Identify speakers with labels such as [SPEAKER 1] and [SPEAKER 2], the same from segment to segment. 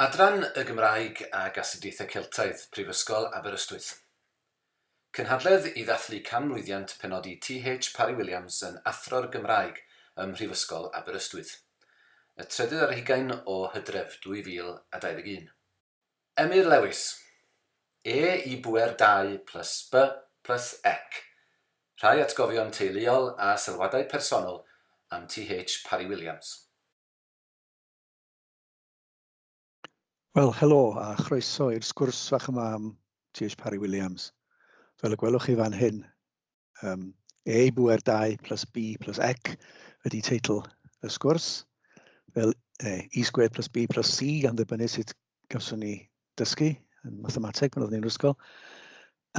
[SPEAKER 1] Adran y Gymraeg ag Astudiaethau Celtaidd, Prifysgol Aberystwyth. Cynhadledd i ddathlu canmlwyddiant penodi TH Parry Williams yn Athro'r Gymraeg ym Mhrifysgol Aberystwyth, y trydydd ar hugain o Hydref 2021. Emyr Lewis. E i bŵer 2 plus B plus ec. Rhai atgofion teuluol a sylwadau personol am TH Parry Williams. Wel, helo a chroeso i'r sgwrs fach yma am TH Parry Williams. Fel y gwelwch chi fan hyn, um, E i bwer 2 plus B plus Ec ydy teitl y sgwrs. Fel e, E sgwyd plus B plus C gan ddibynnu sut gawson ni dysgu yn mathemateg pan oeddwn i'n ysgol.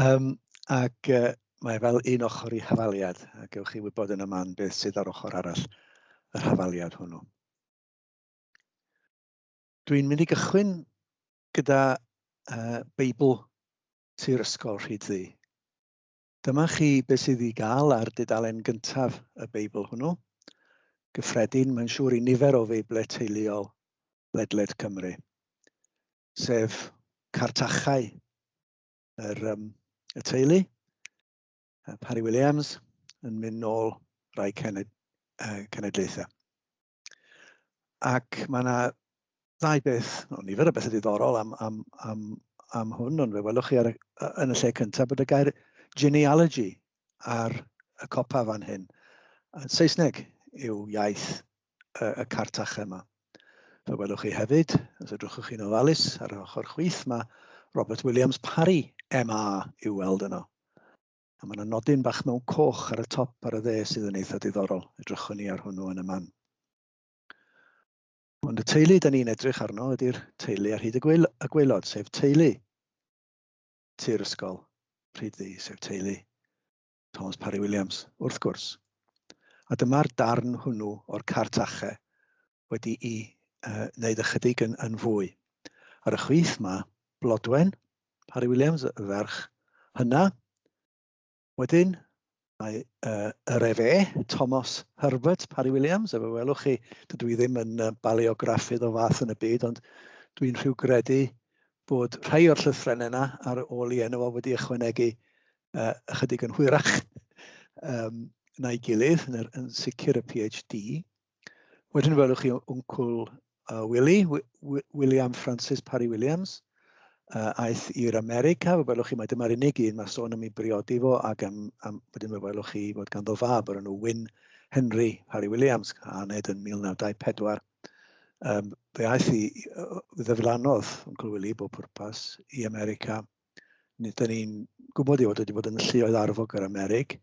[SPEAKER 1] Um, ac uh, mae fel un ochr i hafaliad, a gewch chi wybod yn y man beth sydd ar ochr arall yr hafaliad hwnnw. Dwi'n mynd i gychwyn gyda uh, Beibl Tir Ysgol Rhyd Ddu. Dyma chi beth sydd i gael ar dudalen gyntaf y Beibl hwnnw. Gyffredin, mae'n siŵr i nifer o Feiblau teuluol ledled Cymru, sef cartachau yr, um, y teulu, Parry Williams, yn mynd nôl rai cened, uh, cenedlaethau. Ac mae yna ddau beth, no, nifer o bethau diddorol am, am, am, am hwn, ond fe welwch chi ar, yn y lle cyntaf bod y gair genealogy ar y copa fan hyn. Saesneg yw iaith y, y cartach yma. Fe welwch chi hefyd, os ydwchwch chi'n ofalus, ar yr ochr chwith mae Robert Williams Parry, MA, i'w weld yno. A mae yna nodyn bach mewn coch ar y top ar y dde sydd yn eitha diddorol. Edrychwn ni ar hwnnw yn y man. Ond y teulu da ni'n edrych arno ydy'r teulu ar hyd y, gweil y gweilod, sef teulu Tir Ysgol Rhyddi, sef teulu Thomas Parry Williams, wrth gwrs. A dyma'r darn hwnnw o'r cart ache wedi'i uh, wneud ychydig yn, yn fwy. Ar y chwith mae Blodwen, Harry Williams, y ferch hynna. Wedyn mae uh, yr efe, Thomas Herbert, Harry Williams, efe welwch chi, dydw i ddim yn uh, baleograffydd o fath yn y byd, ond dwi'n rhyw gredu bod rhai o'r llythrennau yna ar ôl i enw fo wedi ychwanegu uh, ychydig yn hwyrach um, na'i gilydd, yn, yn sicr y PhD. Wedyn welwch chi wncwl uh, Willie, William Francis Parry Williams, uh, aeth i'r America, fe welwch chi mae dyma'r unig un mae sôn am ei briodi fo, ac am, am, wedyn fe welwch chi fod ganddo fab o'r enw Wyn Henry Parry Williams, a aned yn 1924. Um, fe aeth i, fe ddeflanodd Uncle Willie bob pwrpas i America, Nid ni'n gwybod ei fod wedi bod yn lluoedd arfog yr Amerig.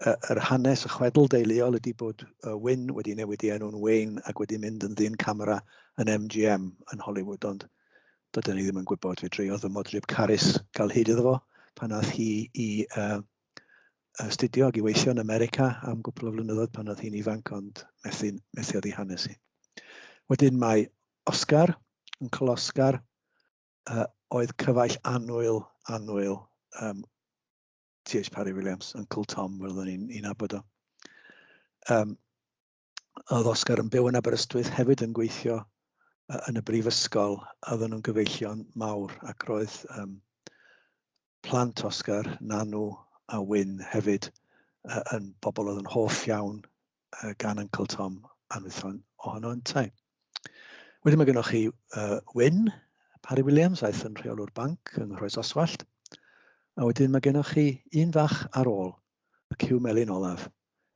[SPEAKER 1] Yr hanes y chwedl deuluol ydy bod Wynne wedi newid ei enw'n Wayne ac wedi mynd yn ddyn camera yn MGM yn Hollywood, ond dydyn ni ddim yn gwybod. Fe dreodd fy modryb Carys gael hyd iddo fo pan ath hi i uh, astudio ac i weithio yn America am gwpl o flynyddoedd pan oedd hi'n ifanc, ond methu, methu oddi hanes hi. Wedyn mae Oscar yn Oscar, uh, oedd cyfaill annwyl, annwyl um, T.H. Parry Williams, Uncle Tom, fel oedden ni'n un abod o. Um, oedd Oscar yn byw yn Aberystwyth hefyd yn gweithio uh, yn y brifysgol, a oedden nhw'n gyfeillion mawr, ac roedd um, plant Oscar, Nanu a Wyn hefyd yn bobl oedd yn hoff iawn gan Uncle Tom a nhwython ohono yntau. Wedyn mae gennych chi uh, Wyn, Parry Williams, aeth yn rheolwr banc yng Nghroes Oswallt, a wedyn mae gennych chi un fach ar ôl, y cyw melyn olaf,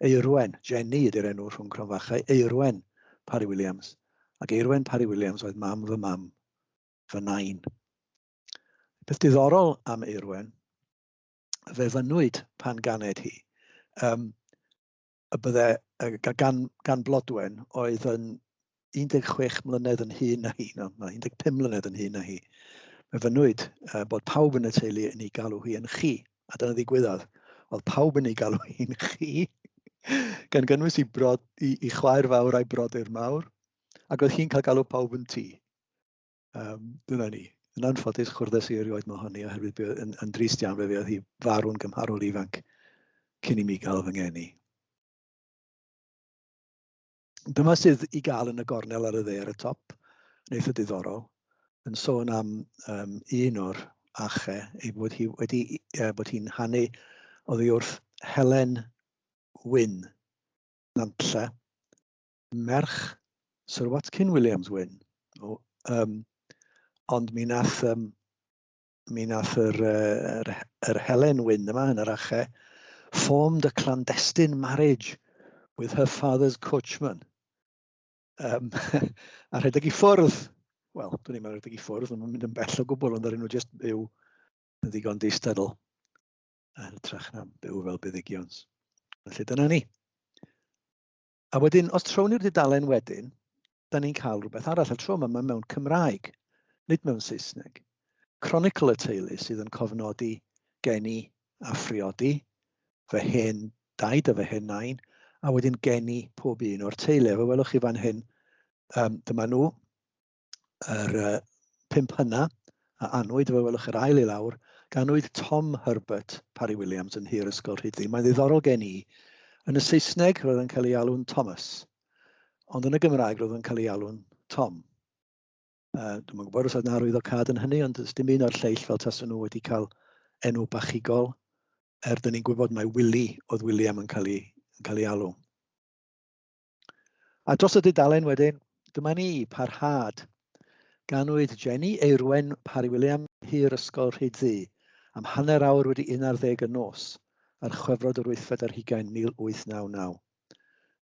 [SPEAKER 1] Eirwen, Jenny ydy'r enw rhwng cronfachau, Eirwen Parry Williams, ac Eirwen Parry Williams oedd mam fy mam, fy nain. Beth diddorol am Eirwen, fe fynwyd pan ganed hi, um, y bydde, gan, gan Blodwen oedd yn 16 mlynedd yn hyn na hi, no, 15 mlynedd yn hyn na hi. Fe fynwyd uh, bod pawb yn y teulu yn ei galw hi yn chi, a dyna ddigwyddodd. Oedd pawb yn ei galw hi'n chi, gan gynnwys i, brod, i, i chwaer fawr a'i brodyr mawr, ac oedd hi'n cael galw pawb yn ti. Um, dyna ni. Yn anffodus, chwrdes i erioed mae honni, oherwydd bydd yn, yn drist iawn fe fydd hi farw'n gymharol ifanc cyn i mi gael fy ngeni. Dyma sydd i gael yn y gornel ar y dde ar y top, yn eitha diddorol, yn sôn am um, un o'r ache, ei bod hi wedi, uh, bod hi'n hanu oddi wrth Helen Wyn, Nantlle, merch Sir Watkin Williams Wyn. O, um, ond mi nath, um, mi nath yr, yr, yr Helen Wyn yma yn yr ache formed a clandestine marriage with her father's coachman. Um, a rhedeg i ffwrdd, wel, dwi'n i'n rhedeg i ffwrdd, mae'n mynd yn bell o gwbl, ond rydyn nhw jyst byw yn ddigon distadl. A hytrach na byw fel buddigions. Felly dyna ni. A wedyn, os trown ni'r dudalen wedyn, da ni'n cael rhywbeth arall. A tro yma, mae mewn Cymraeg, nid mewn Saesneg. Chronicle y teulu sydd yn cofnodi geni a phriodi, fy hen daid a fy hen nain, a wedyn geni pob un o'r teulu. Fe welwch chi fan hyn, um, dyma nhw, yr uh, pimp hynna, a anwyd efo welwch yr ail i lawr, ganwyd Tom Herbert Parry Williams yn hir ysgol Rhydli. Mae'n ddiddorol gen i. Yn y Saesneg, roedd yn cael ei alw'n Thomas, ond yn y Gymraeg, roedd yn cael ei alw'n Tom. Uh, Dwi'n gwybod os oedd yna arwydd o cad yn hynny, ond dim un o'r lleill fel taswn nhw wedi cael enw bachigol, er dyn ni'n gwybod mae Willie oedd William yn cael ei, yn cael ei alw. A dros y dudalen wedyn, dyma ni, parhad. Ganwyd Jenny Eirwen Parry William, Hir Ysgol Rhyd Ddu, am hanner awr wedi un ar ddeg y nos, ar Chwefrod yr Wythfed ar Hugain 1899.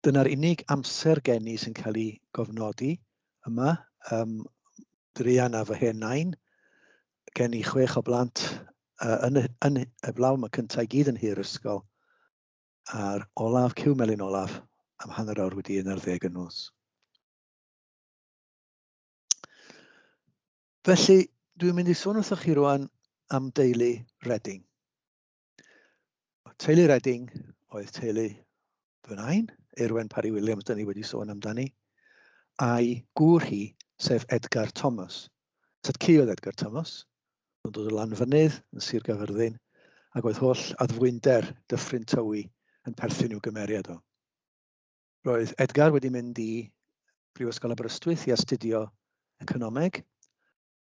[SPEAKER 1] Dyna'r unig amser gen i sy'n cael ei gofnodi yma, um, druan a fy hen nain, gen i chwech o blant uh, yn, y, yn y blaw, mae cyntaf i gyd yn hir ysgol. Ar olaf, cyw melyn olaf, am hanner awr wedi un ar ddeg yn nos. Felly, dwi'n mynd i sôn wrthych chi rwan am deulu Redding. Teulu Redding oedd teulu fy nain, Erwen Parry Williams, dyn ni wedi sôn amdani, a'i gŵr hi, sef Edgar Thomas. Tad cu oedd Edgar Thomas, Ro'n dod o Lanfynydd, yn Sir Gaerfyrddin, ac oedd holl addfwynder Dyffryn Tywi yn perthyn i'w gymeriad o. Roedd Edgar wedi mynd i Brifysgol Aberystwyth i astudio Economeg,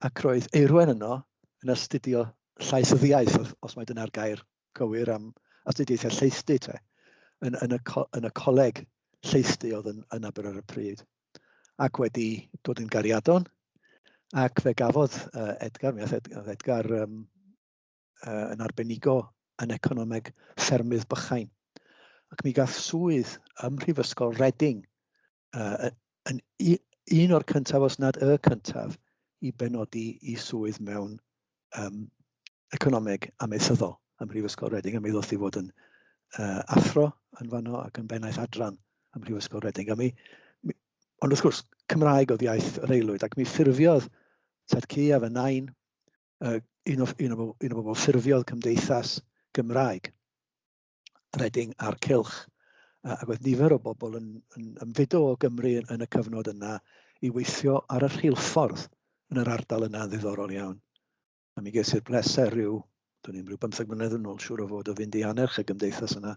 [SPEAKER 1] ac roedd Eirwen yno yn astudio Llaethyddiaeth, os mai dyna'r gair cywir am astudiaethau lleisty te, yn, yn, y, yn y coleg lleisty oedd yn, yn Aber ar y pryd, ac wedi dod yn gariadon, ac fe gafodd uh, Edgar, mi oedd Edgar um, uh, yn arbenigo yn economeg ffermydd bychain. Ac mi gath swydd ym Mhrifysgol Reading uh, yn un o'r cyntaf, os nad y cyntaf, i benodi i swydd mewn um, economeg ameisyddol ym Mhrifysgol Reading, a mi ddoth i fod yn uh, athro yn fanno ac yn bennaeth adran ym Mhrifysgol Reading. A mi, mi, ond wrth gwrs, Cymraeg oedd iaith yr aelwyd, ac mi ffurfiodd Tad Cu a fy nain, uh, un, o, un, o, un o bobl ffurfiodd cymdeithas Gymraeg Reading a'r cylch. A, ac oedd nifer o bobl yn, yn ymfudo o Gymru yn, yn y cyfnod yna i weithio ar y rheilffordd yn yr ardal yna yn ddiddorol iawn. A mi ges i'r bleser rhyw, dwi'n i'n rhyw bymtheg mlynedd yn ôl siŵr o fod o fynd i anerch y gymdeithas yna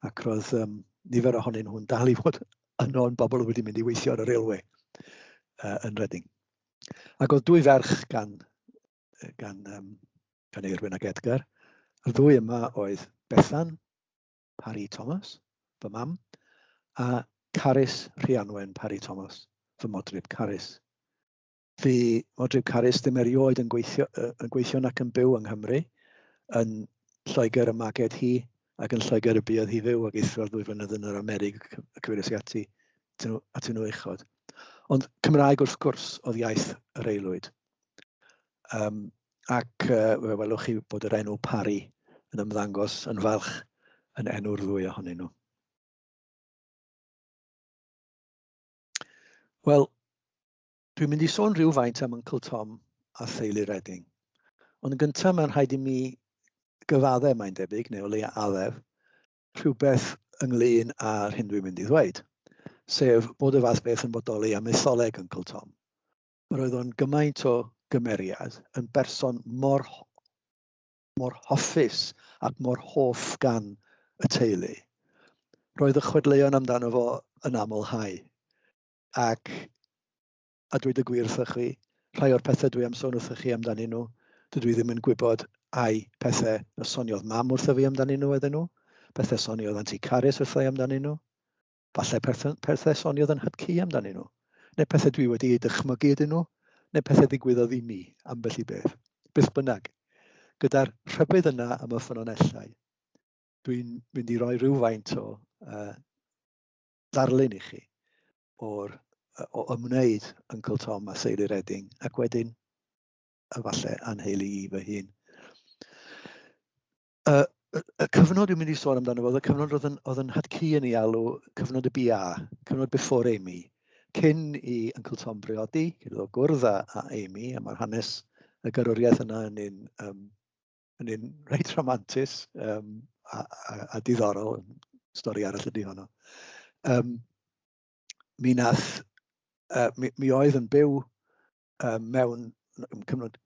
[SPEAKER 1] ac roedd um, nifer ohonyn nhw'n dal i fod yno yn bobl wedi mynd i weithio ar y railway uh, yn Reading. Ac oedd dwy ferch gan gan, um, gan Eirwyn ac Edgar. Y ddwy yma oedd Bethan, Parry Thomas, fy mam, a Carys Rhianwen Parry Thomas, fy modryb Carys. Fy modryb Carys ddim erioed yn gweithio, yn gweithio nac yn byw yng Nghymru, yn Lloegr y maged hi ac yn Lloegr y buodd hi fyw ac eithro'r ddwy flynedd yn yr Amerig y cyfeiriais i ati atyn nhw uchod. Ond Cymraeg wrth gwrs oedd iaith yr aelwyd. Um, ac uh, fe welwch chi bod yr enw Parry yn ymddangos yn falch yn enw'r ddwy ohonyn nhw. Wel, dwi'n mynd i sôn rhywfaint am Uncle Tom a theulu Redding. Ond yn gyntaf mae'n rhaid i mi gyfaddau mae'n debyg, neu o leia addef, rhywbeth ynglyn â'r hyn dwi'n mynd i ddweud, sef bod y fath beth yn bodoli am etholeg Uncle Tom. Yr oedd o'n gymaint o gymeriad, yn berson mor, mor hoffus ac mor hoff gan y teulu. Roedd y chwedleuon amdano fo yn aml hau. Ac, a dweud y gwir wrthych chi, rhai o'r pethau dwi am sôn wrthych chi amdanyn nhw, dydw i ddim yn gwybod ai pethau y soniodd mam wrtho fi amdanyn nhw oedden nhw, pethau soniodd Anti Caris wrtho i amdanyn nhw, Falle pethau soniodd yn Hypci amdanyn nhw, neu pethau dwi wedi eu dychmygu ydyn nhw, neu pethau ddigwyddodd i mi, ambell i beth. Beth bynnag, gyda'r rhybudd yna am y ffynonellau, dwi'n mynd i roi rhywfaint o uh, ddarlun i chi o'r, o ymwneud Uncle Tom a Seili Redding, ac wedyn, efallai, anheili i fy hun. y, y cyfnod dwi'n mynd i sôn amdano fo, oedd y cyfnod oedd yn, oedd yn hadcu yn ei alw, cyfnod y BA, cyfnod before Amy, cyn i Uncle Tom briodi, cyn iddo gwrdd â, â Amy, a mae'r hanes y garwriaeth yna yn un, um, yn un reit romantus um, a, a, a diddorol, stori arall ydy honno. Um, mi nath, uh, mi, mi oedd yn byw um, mewn cyfnod,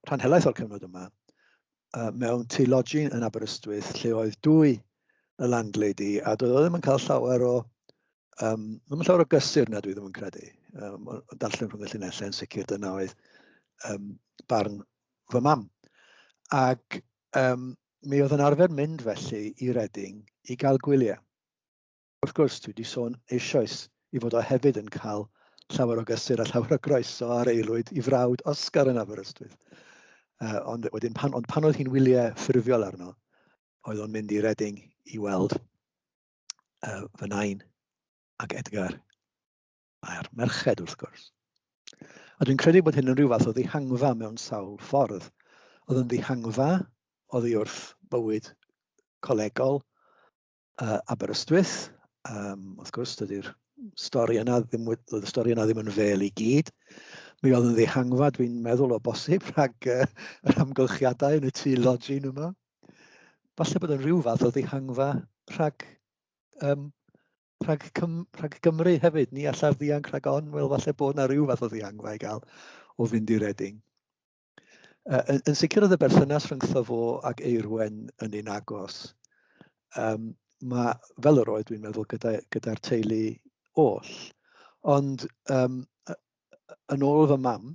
[SPEAKER 1] rhan helaeth o'r cyfnod yma, uh, mewn tŷ lodging yn Aberystwyth lle oedd dwy y landlady a doedd o ddim yn cael llawer o um, ddim yn llawer o gysur na dwi ddim yn credu. Um, o darllen rhwng y llinellau yn sicr dyna oedd um, barn fy mam. Ac um, mi oedd yn arfer mynd felly i Reading i gael gwyliau. Wrth gwrs, dwi wedi sôn eisoes ei fod o hefyd yn cael llawer o gysur a llawer o groeso ar aelwyd i frawd Oscar yn Aberystwyth. Uh, ond wedyn, pan, ond pan oedd hi'n wyliau ffurfiol arno, oedd o'n mynd i Reading i weld uh, fy nain ac Edgar a'r merched wrth gwrs. A dwi'n credu bod hyn yn rhyw fath o ddihangfa mewn sawl ffordd. Oedd yn ddihangfa oddi wrth bywyd colegol, Uh, Aberystwyth, um, wrth gwrs, dydy'r stori yna ddim, oedd y stori yna ddim yn fel i gyd. Mi oedd yn ddihangfa, dwi'n meddwl o bosib, rhag uh, yr amgylchiadau yn y tu lodgin yma. Falle bod yn rhyw fath o ddihangfa rhag, um, rhag, cym, rhag Gymru hefyd. Ni allaf ddianc rhag on, wel falle bod yna rhyw fath o ddihangfa i gael o fynd i Reading. Yn sicr oedd y berthynas rhyngtho fo ac Eirwen yn un agos. Um, mae, fel yr oedd dwi'n meddwl gyda'r gyda teulu oll. Ond um, yn ôl fy mam,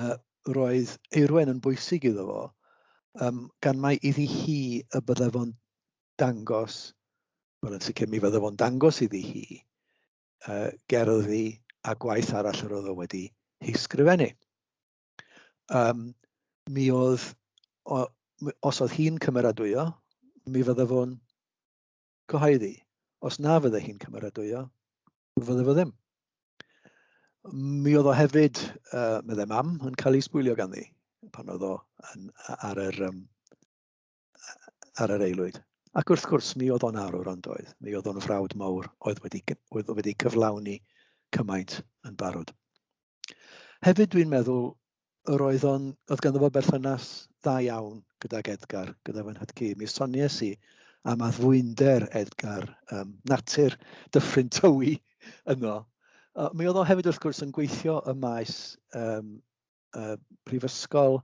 [SPEAKER 1] uh, roedd Eirwen yn bwysig iddo fo, um, gan mae iddi hi y bydde fo'n dangos, wel yn sicr mi fydde fo'n dangos iddi hi, uh, gerddi a gwaith arall yr oedd o wedi hi sgrifennu. Um, mi oedd, o, os oedd hi'n cymeradwyo, mi fydde fo'n cyhoeddi. Os na fydde hi'n cymeradwyo, fydde fo ddim. Mi oedd o hefyd, uh, meddai mam, yn cael ei sbwylio ganddi pan oedd o yn, ar yr um, ar yr aelwyd. Ac wrth gwrs, mi oedd o'n arwr ond oedd, mi oedd o'n frawd mawr oedd wedi, oedd wedi cyflawni cymaint yn barod. Hefyd dwi'n meddwl yr oedd o'n, oedd ganddo fo berthynas dda iawn gydag Edgar, gyda fy nhad-cu. Mi sonies i am addfwynder Edgar, um, natur dyffryn tywi yno. Uh, mi oedd o hefyd wrth gwrs yn gweithio y maes um, uh, prifysgol,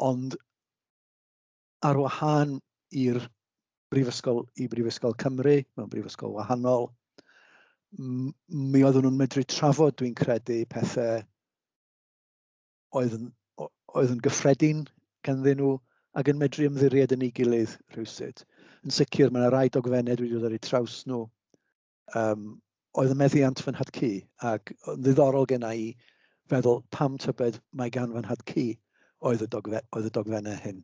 [SPEAKER 1] ond ar wahân i'r brifysgol i Brifysgol Cymru, mewn brifysgol wahanol, mi oeddwn nhw'n medru trafod, dwi'n credu, pethau oedd yn, oedd yn gyffredin ganddyn nhw ac yn medru ymddiried yn ei gilydd rhywsut. Yn sicr, mae yna rai dogfennau wedi dod ar eu traws nhw um, oedd y meddiant fy nhad cu, ac yn ddiddorol gen i feddwl pam tybed mae gan fy nhad cu oedd y, dogfe, oedd y dogfennau hyn.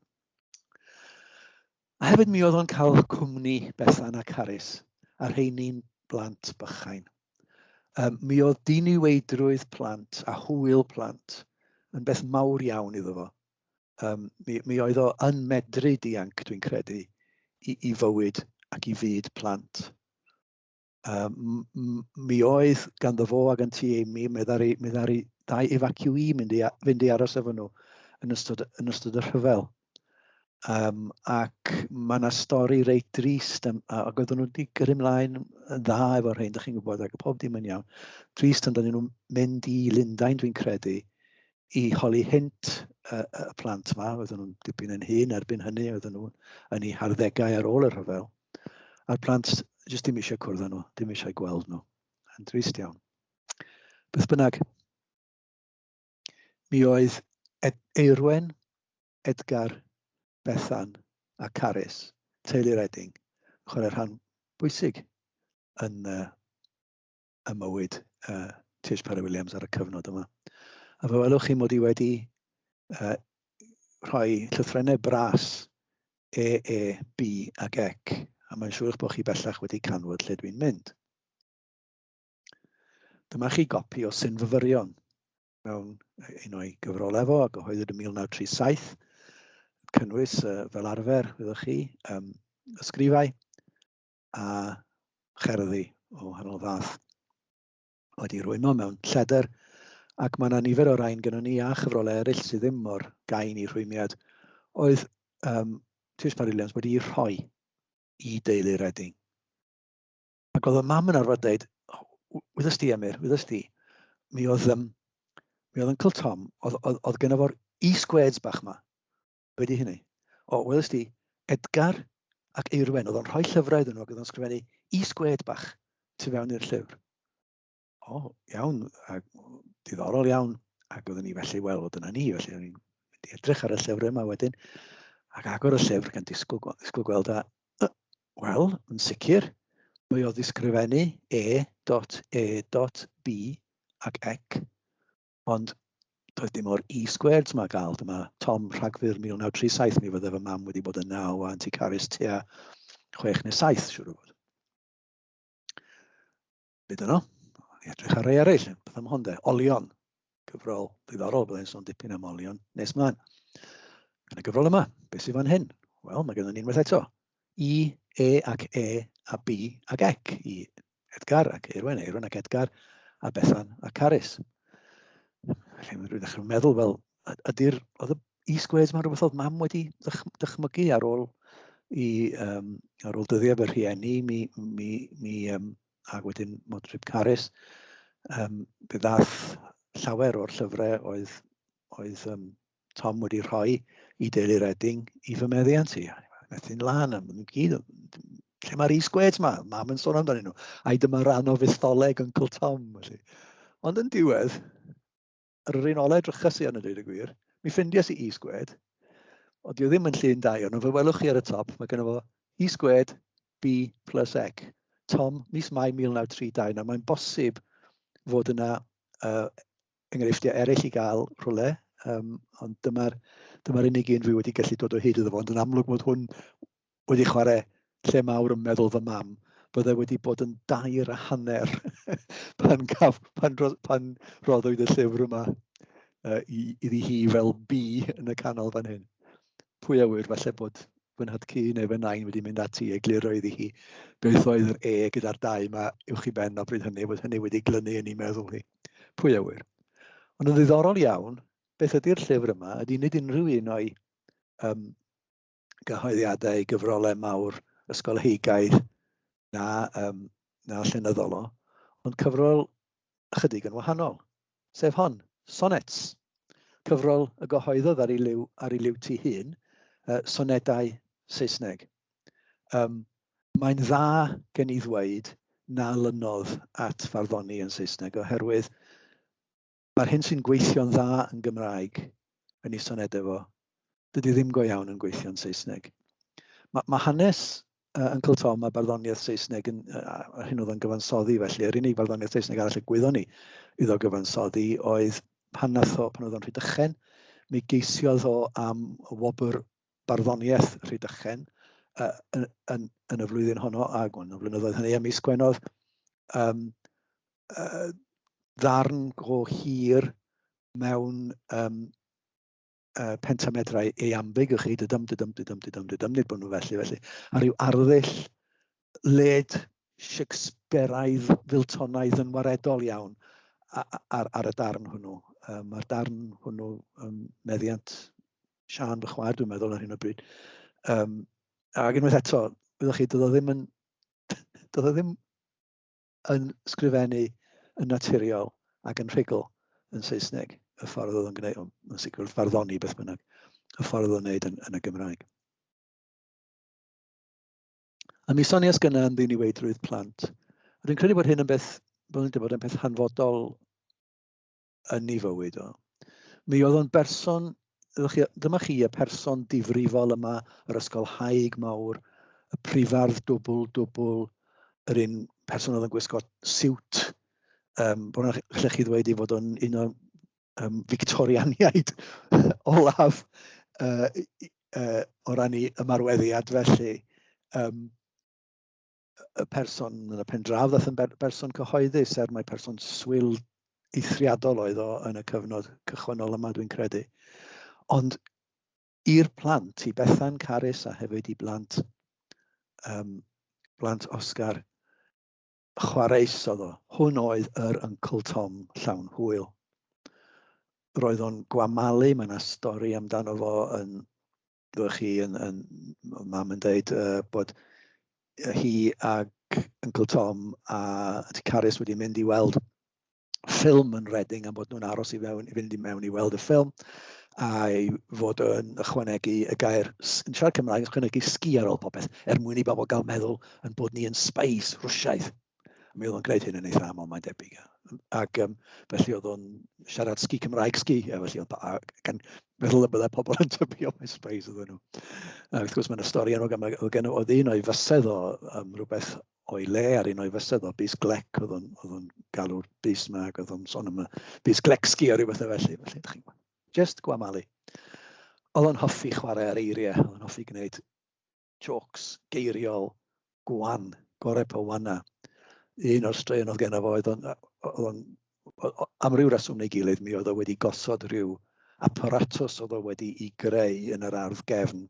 [SPEAKER 1] A hefyd mi oedd o'n cael cwmni Bethan a Carys a rheini'n blant bychain. Um, mi oedd diniweidrwydd plant a hwyl plant yn beth mawr iawn iddo fo. Um, mi, mi oedd o yn medru dianc, dwi'n credu, i, i fywyd ac i fyd plant. Um, mi oedd ganddo fo ag yn ti Amy, mi ddari, mi ddari dau evacuee mynd i, fynd i aros efo nhw yn ystod, yn ystod y rhyfel. Um, ac mae yna stori reit drist, am, ac oedden nhw wedi gyrru mlaen yn dda efo rhain, da chi'n gwybod, ac pob dim yn iawn. Drist, ond oedden nhw'n mynd i Lundain, dwi'n credu, i holi hint y, y plant yma, oedden nhw'n dipyn yn hun erbyn hynny, oedden nhw yn ei harddegau ar ôl y rhyfel. A'r plant jyst dim eisiau cwrdd â nhw, dim eisiau gweld nhw. Yn drist iawn. Beth bynnag, mi oedd Ed Eirwen, Edgar, Bethan a Carys, teulu'r Edding, yn chwarae rhan bwysig yn, uh, y mywyd uh, Tish Parry Williams ar y cyfnod yma. A fe welwch chi mod i wedi uh, rhoi llythrennau bras E, E, B ac Ec, a mae'n siŵr eich bod chi bellach wedi canfod lle dwi'n mynd. Dyma chi gopi o Syn Fyfyrion mewn un o'i gyfrol efo a gyhoeddwyd yn 1937, cynnwys uh, fel arfer, wyddoch chi, um, ysgrifau, a cherddi o wahanol fath wedi rhwymo mewn lleder ac mae yna nifer o rain gyda ni a chyfrolau eraill sydd ddim mor gain i rhwymiad oedd um, Tiws Marillions wedi rhoi i deulu Reading. Ac oedd y mam yn arfer dweud, wyddost ti Emyr, wyddost ti, mi oedd, um, mi oedd Uncle Tom, oedd, oedd, oedd gyda fo'r e-squares bach yma, Be di hynny? O, welys di, Edgar ac Eirwen, oedd o'n rhoi llyfrau iddyn nhw ac oedd o'n sgrifennu is gwed bach tu fewn i'r llyfr. O, iawn, a diddorol iawn. Ac oedden ni felly, wel, oedd yna ni, felly oedden ni'n edrych ar y llyfr yma wedyn, ac agor y llyfr gan disgwyl, disgwyl gweld a, uh, wel, yn sicr, mae o ddisgrifennu e dot e dot b ac ec, ond doedd dim o'r E squared yma gael. Dyma Tom Rhagfyr 1937, mi fydde fy mam wedi bod yn naw a Anti Caris tua chwech neu saith, siwr o fod. Byd yno, i edrych ar ei eraill, beth am hon de, olion, cyfrol ddiddorol, byddai'n sôn dipyn am olion, nes mlaen. Yn y gyfrol yma, beth sy'n fan hyn? Wel, mae gennym ni unwaith eto, I, E ac E a B ac Ec, i Edgar ac Eirwen, Eirwen ac Edgar, a Bethan a Carys. Rwy'n ddechrau meddwl, wel, ydy'r, oedd y e-squares mae'n rhywbeth oedd mam wedi dychmygu ar ôl i, um, ar ôl dyddiau fy rhieni, mi, mi, mi um, ac wedyn Modrib Carys, um, fe ddath llawer o'r llyfrau oedd, oedd um, Tom wedi rhoi i deulu Redding i fy meddiant i. Methu'n lan am nhw'n gyd. Lle mae'r e-squares ma? Mam yn sôn amdano nhw. Ai dyma rhan o fetholeg Uncle Tom. Felly. Ond yn diwedd, yr un olau drychus i yn y dweud y gwir, mi ffindias i e-squared, o dio ddim yn llun dau, ond fe welwch chi ar y top, mae gen fo e-squared B plus X. Tom, mis Mai 1932, nawr mae'n bosib fod yna uh, enghreifftiau eraill i gael rhywle, um, ond dyma'r dyma unig un fi wedi gallu dod o hyd iddo fo, ond yn amlwg bod hwn wedi chwarae lle mawr yn meddwl fy mam, byddai wedi bod yn dair a hanner pan, gaf, pan, pan roddwyd y llyfr yma uh, iddi hi fel bi yn y canol fan hyn. Pwy a wyr, falle bod fy nhadcu neu fy nain wedi mynd ati i egluro iddi hi beth oedd yr e gyda'r dau yma uwch i ben o bryd hynny, oedd hynny wedi glynu yn ei meddwl hi. Pwy a ŵyr. Ond yn ddiddorol iawn, beth ydy'r llyfr yma ydy nid unrhyw un o'i um, gyhoeddiadau, gyfrolau mawr, ysgolheigaidd, na, um, na llenyddol o, ond cyfrol ychydig yn wahanol, sef hon, Sonnets, cyfrol y gyhoeddodd ar ei liw, ar ei liw ti hun, uh, sonedau Saesneg. Yym, mae'n dda gen i ddweud na lynnodd at farddoni yn Saesneg oherwydd mae'r hyn sy'n gweithio'n dda yn Gymraeg, yn ei sonedau fo, dydy ddim go iawn yn gweithio'n Saesneg. Mae, mae hanes uh, Uncle Tom a barddoniaeth Saesneg yn, uh, hyn oedd o'n gyfansoddi felly, yr unig barddoniaeth Saesneg arall y gwyddon ni iddo gyfansoddi oedd pan nath o, pan oedd o'n rhy dychen, mi geisiodd o am y wobr barddoniaeth Rhydychen uh, yn, yn, yn y flwyddyn honno, a gwn y flynyddoedd hynny, a mis Gwenodd, um, uh, ddarn go hir mewn um, uh, pentamedrau eambig o chi, dydym, dydym, dydym, dydym, dydym, nid bod nhw felly, felly, a rhyw arddull led Shakespeareaidd, Filtonaidd yn waredol iawn ar, ar y darn hwnnw. Um, Mae'r darn hwnnw um, meddiant Sian, fy chwaer, dwi'n meddwl, ar hyn o bryd. Um, ac unwaith eto, wyddoch chi, doedd o ddim yn, doedd o ddim yn sgrifennu yn naturiol ac yn rhugl yn Saesneg, y ffordd oedd o'n gwneud, yn sicr wrth farddoni beth bynnag, y ffordd oedd o'n gwneud yn, yn y Gymraeg. A mi sonias gyna am ddiniweidrwydd plant. Rwy'n credu bod hyn yn beth, bod yn bod yn peth hanfodol yn ei fywyd o. Mi oedd o'n berson, dyma chi y person difrifol yma, yr ysgolhaig mawr, y prifardd dwbl, dwbl, yr un person oedd yn gwisgo siwt, um, bod yna lle chi ddweud i fod o'n un o'r um, Victorianiaid olaf uh, uh, o ran i ymarweddiad felly. Um, y person yn y pen draw ddath yn berson cyhoeddus er mae person swyl eithriadol oedd o yn y cyfnod cychwynnol yma dwi'n credu. Ond i'r plant, i Bethan Carys a hefyd i blant, um, blant Oscar, chwareus oedd o. Hwn oedd yr Uncle Tom llawn hwyl. Roedd o'n gwamalu, mae yna stori amdano fo yn roedd chi yn, yn mam yn dweud uh, bod hi ac Uncle Tom a Auntie Carys wedi mynd i weld ffilm yn Reading am bod nhw'n aros i, fewn, i fynd i mewn i weld y ffilm a'i fod yn ychwanegu y gair yn siarad Cymraeg, yn ychwanegu sgi ar ôl popeth, er mwyn i bobl gael meddwl yn bod ni yn spies Rwsiaidd. Mi oedd o'n gwneud hyn yn eitha aml, mae'n debyg. Ac um, felly oedd o'n siarad sgi Cymraeg sgi, a felly oedd a, gan meddwl y byddai pobl yn tybio mae sprays oedd nhw. A wrth gwrs mae'n y stori enwog yma, oedd gen oedd un o'i fysedd o um, rhywbeth o'i le ar un o'i fysedd o bus glec, oedd o'n galw'r bus yma ac oedd o'n son am y bus glec sgi o rhywbeth o felly. Felly, ydych chi'n just gwamalu. Oedd o'n hoffi chwarae ar eiriau, oedd o'n hoffi gwneud Jôcs geiriol gwan, gorau pa wana. Un o'r straeon oedd genna fo oedd o'n, oedd o'n, am ryw reswm neu gilydd, mi oedd o wedi gosod rhyw aparatus oedd o wedi i greu yn yr ardd gefn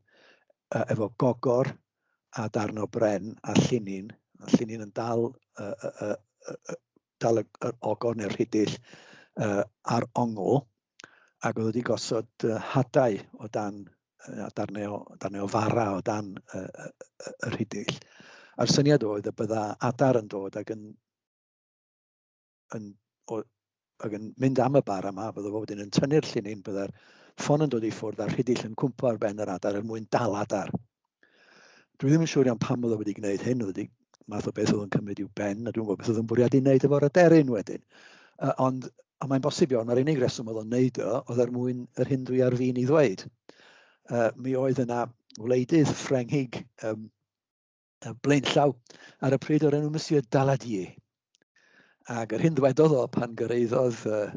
[SPEAKER 1] efo gogor a darn o bren a llinyn, a llinyn yn dal, uh, uh, uh, dal y, y ogor neu'r rhidill uh, ar ongl, ac oedd wedi gosod hadau o dan a darnau o, darnau o fara o dan y, y, y, y rhidill. A'r syniad oedd y bydda adar yn dod ac yn, yn, o, ac yn mynd am y bar yma, bydda fo wedyn yn tynnu'r llinyn, bydda'r ffon yn dod i ffwrdd a'r rhidill yn cwmpo ar ben yr adar er mwyn dal adar. Dwi ddim yn siŵr iawn pam oedd o wedi gwneud hyn, oedd wedi math o beth oedd yn cymryd i'w ben, a dwi'n gwybod beth oedd yn bwriadu wneud efo'r aderyn wedyn. Uh, ond a mae'n bosib iawn, mae'r unig reswm oedd o'n wneud o, oedd er mwyn yr hyn dwi ar fin i ddweud. Uh, mi oedd yna wleidydd Ffrengig um, blaenllaw ar y pryd o'r enw Monsieur Daladier. Ac yr hyn ddwedodd o pan gyreiddodd uh,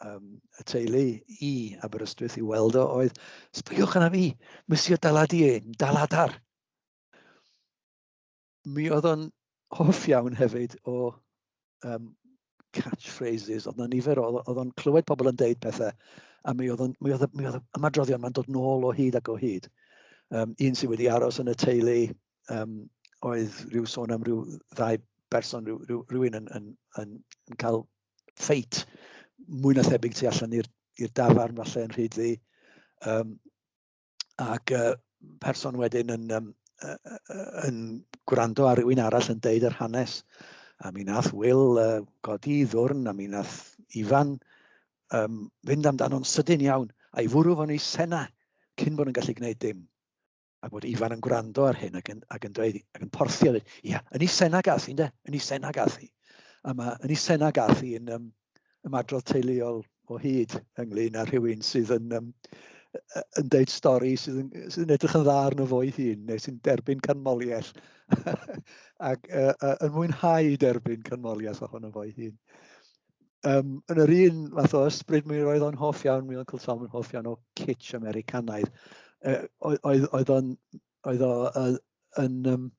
[SPEAKER 1] um, y teulu i Aberystwyth i weld o oedd, sbygwch yna fi, mysio dalad i ein, daladar. Mi oedd o'n hoff iawn hefyd o um, catchphrases, oedd na nifer o, oedd o'n clywed pobl yn deud pethau, a mi oedd, mi oedd, mi oedd ymadroddion mae'n dod nôl o hyd ac o hyd. Um, un sydd wedi aros yn y teulu um, oedd rhyw sôn am rhyw ddau berson, rhyw, rhyw, rhywun yn, yn, yn, yn cael ffeit mwy na thebyg tu allan i'r dafarn falle yn rhyd ddi. Um, ac uh, person wedyn yn, um, yn gwrando ar rywun arall yn deud yr hanes. A mi nath Will uh, godi i ddwrn, a mi nath Ifan um, fynd amdano'n sydyn iawn, a'i fwrw fo'n ei sena cyn bod yn gallu gwneud dim. a bod Ifan yn gwrando ar hyn ac yn, ac yn dweud, ac yn porthi a dweud, ia, yn ei sena gath i, ynde? Yn ei sena gath i. A mae yn ei sena gath i yn um, ymadrodd teuluol o hyd ynglyn â rhywun sydd yn, um, yn deud stori sydd yn, sydd yn edrych yn dda arno fo'i hun, neu sy'n derbyn canmoliaeth, ac uh, uh, yn mwynhau derbyn canmoliaeth ohono fo'i hun. um, yn yr un fath o ysbryd mi roedd o'n hoff iawn, mi Uncle Tom yn hoff iawn o kitsch Americanaidd. Uh, oedd, oedd o'n, oedd o, uh, yn, um,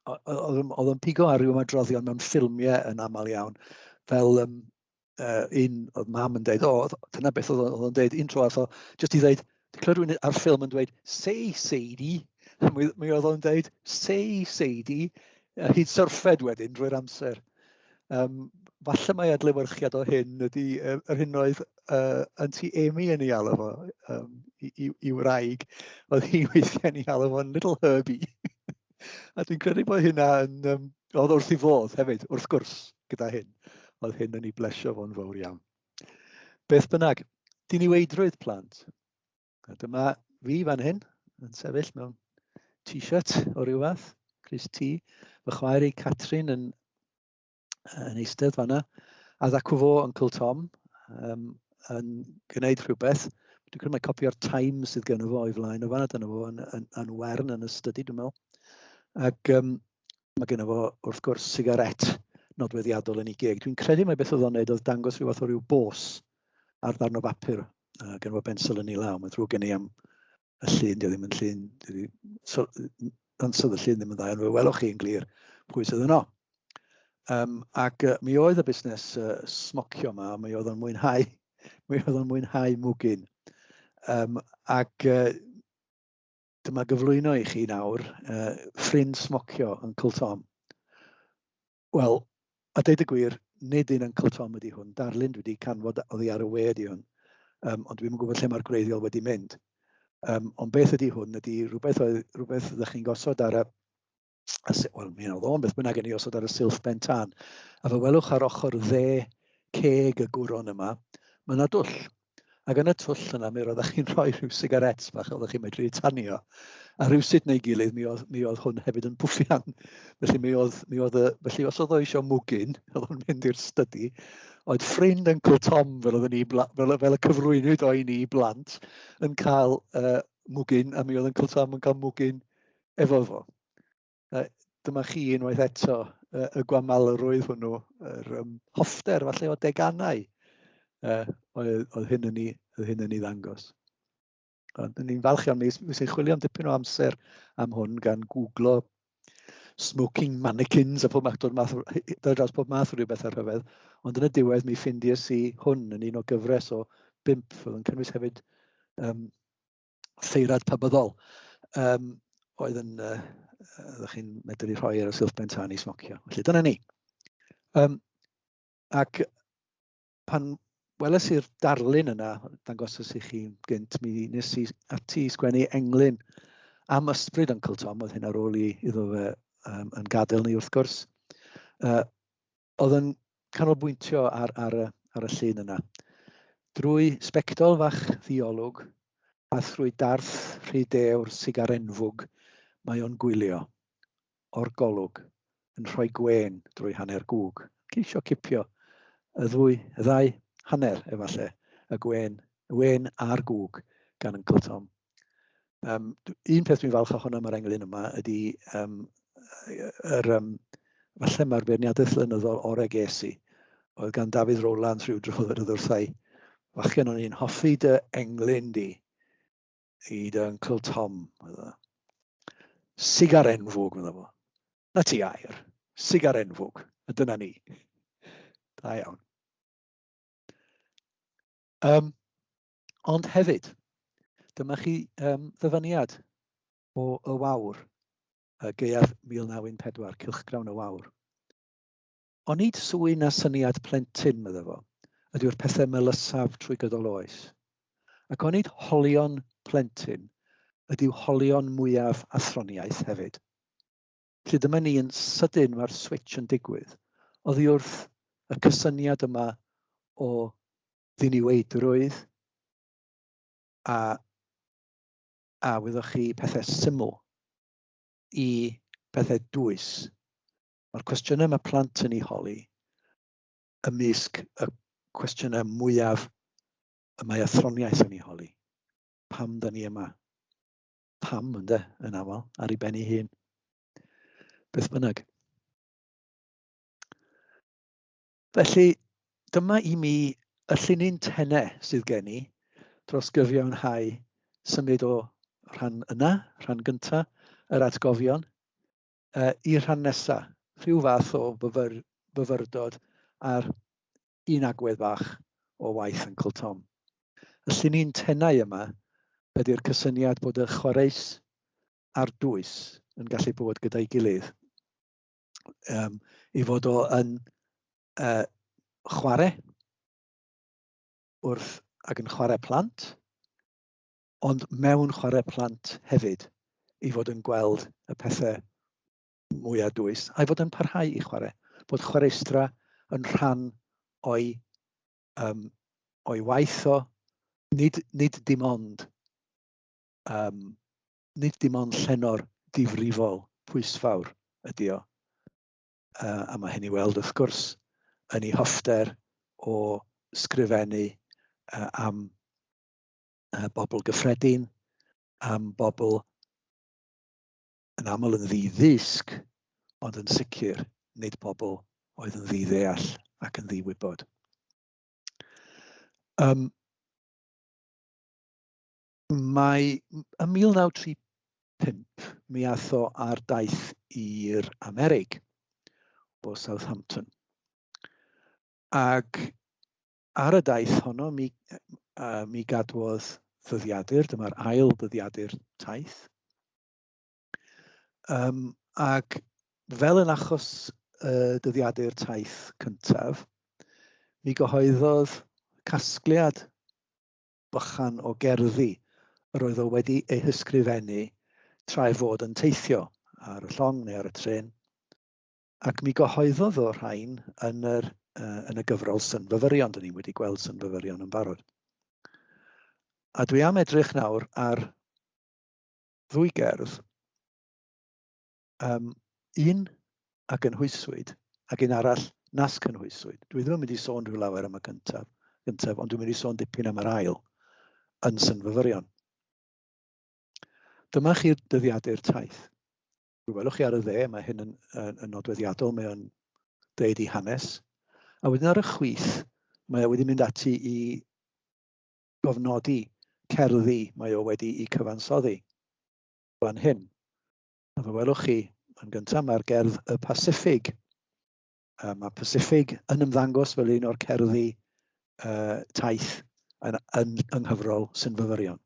[SPEAKER 1] oedd o'n pigo ar ryw ymadroddion mewn ffilmiau yn aml iawn, fel um, uh, un oedd mam yn dweud, o, dyna beth oedd o'n dweud, un tro atho, jyst i ddeud, Clywed rhywun ar ffilm yn dweud, say Sadie, mi, mi oedd o'n dweud, say Sadie, a hyd syrffed wedyn drwy'r amser. Um, falle mae adlewyrchiad o hyn ydy uh, yr hyn oedd uh, yn ti Amy yn ei alw fo um, i, i, i wraig. Oedd hi weithiau'n ei alw fo'n little herby. a dwi'n credu bod hynna yn... Um, oedd wrth i fodd hefyd, wrth gwrs, gyda hyn. Oedd hyn yn ei blesio fo'n fawr iawn. Beth bynnag, diniweidrwydd plant. A dyma fi fan hyn, yn sefyll mewn t-shirt o ryw fath, Chris T. Fy chwaer i Catrin yn, yn eistedd fanna, a ddacw fo Uncle Tom um, yn gwneud rhywbeth. Dwi'n credu mae copio'r Times sydd gen fo o'i flaen o fanna, dyna fo yn, yn, yn wern yn y study, dwi'n meddwl. Ac um, Mae gennym fo, wrth gwrs, sigaret nodweddiadol yn ei geg. Dwi'n credu mai beth oedd o'n neud oedd dangos rhyw fath o ryw bos ar ddarn o bapur. Uh, gen fo bensel yn ei law, mae'n ddrwg gen i am y llun, dio ddim yn llun, dio ddim, so, ansod y llun ddim yn dda, ond fe welwch chi yn glir pwy sydd yno. Um, ac uh, mi oedd y busnes uh, smocio yma, mi oedd o'n mwynhau, mi oedd o'n mwynhau mwgyn. Um, ac uh, Dyma gyflwyno i chi nawr uh, ffrind smocio Uncle Tom. Wel, a deud y gwir, nid un Uncle Tom ydy hwn. Darlun dwi wedi canfod oddi ar y we ydy hwn. Um, ond dwi'n gwybod lle mae'r gwreiddiol wedi mynd. Um, ond beth ydy hwn? Ydy rhywbeth, oedd, rhywbeth ydych chi'n gosod ar y, wel, mi oedd o'n beth bynnag yn ei osod ar y silff ben tan. A fe welwch ar ochr dde ceg y gwron yma, mae yna dwll. Ac yn y twll yna, mi roeddech chi'n rhoi rhyw sigarets bach a oeddech chi'n medru tanio. A rhywsut neu gilydd, mi oedd, mi oedd hwn hefyd yn bwffian. Felly, mi oedd, mi oedd, felly os oedd o eisiau mwgyn, oedd o'n mynd i'r stydi, oedd ffrind Uncle Tom, fel, oedd ni, fel, fel y cyflwynwyd o'i ni blant, yn cael uh, mwgyn, a mi oedd Uncle Tom yn cael mwgyn efo fo. A dyma chi unwaith eto y, y gwamalrwydd hwnnw, yr um, hoffter falle o deganau uh, oedd, oedd hyn yn ei, oedd hyn yn ei ddangos. Ond ni'n falch iawn, mi sy'n chwilio am dipyn o amser am hwn gan googlo smoking mannequins a pob math, dod, math, dod dros pob math o rhywbeth ar rhyfedd, ond yn y diwedd mi ffindies i hwn yn un o gyfres o bimp, oedd yn cynnwys hefyd um, seirad pabyddol um, oedd yn, uh, ydych chi'n medru rhoi ar y silff ben tân i smocio. Felly dyna ni. Um, ac pan weles i'r darlun yna, dangosos i chi gynt, mi nes i ati i sgwennu englyn am ysbryd Uncle Tom, oedd hyn ar ôl i iddo fe um, yn gadael ni wrth gwrs. Uh, Oedd yn canolbwyntio ar, ar, y, ar y llun yna. Drwy sbectol fach ddiolwg a thrwy darth rhy dewr sigar enfwg mae o'n gwylio, o'r golwg, yn rhoi gwên drwy hanner gwg. Ceisio cipio y ddwy, y ddau hanner, efallai, y gwên, y wên a'r gwg gan Uncle Tom. Um, un peth dwi'n falch ohono mae'r englyn yma ydy um, yr, um, falle mae'r beirniadaeth flynyddol o'r egesi oedd gan Dafydd Rowlands rhyw dro yr wrthau. Fachgen o'n i'n hoffi dy englyn di i dy Uncle Tom. Sigar enfwg, meddwl fo. Na ti air. Sigar enfwg. A dyna ni. Da iawn. Um, Ond hefyd, dyma chi um, ddyfyniad o y wawr, y gaeaf 1914, cylchgrawn y wawr. Onid swy na syniad plentyn, medda fo, ydyw'r pethau melysaf trwy gydol oes. Ac onid holion plentyn ydyw holion mwyaf athroniaeth hefyd. Felly dyma ni yn sydyn mae'r switch yn digwydd. Oddi wrth y cysyniad yma o ddiniweidrwydd a, a wyddoch chi pethau syml i pethau dwys. Mae'r cwestiynau mae plant yn ei holi ymysg y cwestiynau mwyaf y mae athroniaeth yn ei holi. Pam da ni yma? Pam, ynde, yn aml, ar ei ben ei hun. Beth bynnag. Felly, dyma i mi y llinyn tene sydd gen i dros gyfiawnhau symud o rhan yna, rhan gynta, yr atgofion, uh, i'r rhan nesa, rhyw fath o fyfyr, fyfyrdod ar un agwedd fach o waith Uncle Tom. Y llinyn tenau yma ydy'r cysyniad bod y chwareus a'r dwys yn gallu bod gyda'i gilydd. um, i fod o yn uh, chwarae wrth ac yn chwarae plant, ond mewn chwarae plant hefyd, i fod yn gweld y pethau mwyaf dwys, a'i fod yn parhau i chwarae, bod chwaraestra yn rhan o'i, um, o'i waith o, nid, nid dim ond um, nid dim ond llenor difrifol pwysfawr ydy o, a mae hyn i weld wrth gwrs yn ei hoffter o sgrifennu am bobl gyffredin, am bobl yn aml yn ddi-ddysg, ond yn sicr nid pobl oedd yn ddi-ddeall ac yn ddi-wybod. Um, Mae ym 1935 mi ath o ar daith i'r Amerig o Southampton. Ac ar y daith honno mi, uh, mi gadwodd ddyddiadur, dyma'r ail ddyddiadur taith. Um, ac fel yn achos uh, dyddiadur taith cyntaf, mi gyhoeddodd casgliad bychan o gerddi yr oedd o wedi eu hysgrifennu tra ei fod yn teithio, ar y llong neu ar y trên, ac mi gyhoeddodd o rhain yn, yr, uh, yn y gyfrol Synfyfyrion. Dyn ni wedi gweld Synfyfyrion yn barod. A dwi am edrych nawr ar ddwy gerdd um, un a gynhwyswyd ac un arall nas cynhwyswyd. Dwi ddim yn mynd i sôn rhyw lawer am y gyntaf, gyntaf ond dwi'n mynd i sôn dipyn am yr ail yn synfyfyrion. Dyma chi'r dyddiadur taith. Fe welwch chi ar y dde, mae hyn yn, yn, yn nodweddiadol, mae o'n dweud i hanes. A wedyn ar y chwith, mae o wedi mynd ati i gofnodi cerddi mae o wedi i cyfansoddi fan hyn. A fe welwch chi, yn gyntaf mae'r gerdd y Pacific. Uh, mae Pacific yn ymddangos fel un o'r cerddi uh, taith yn, yn, yng nghyfrol sy'n fyfyrion.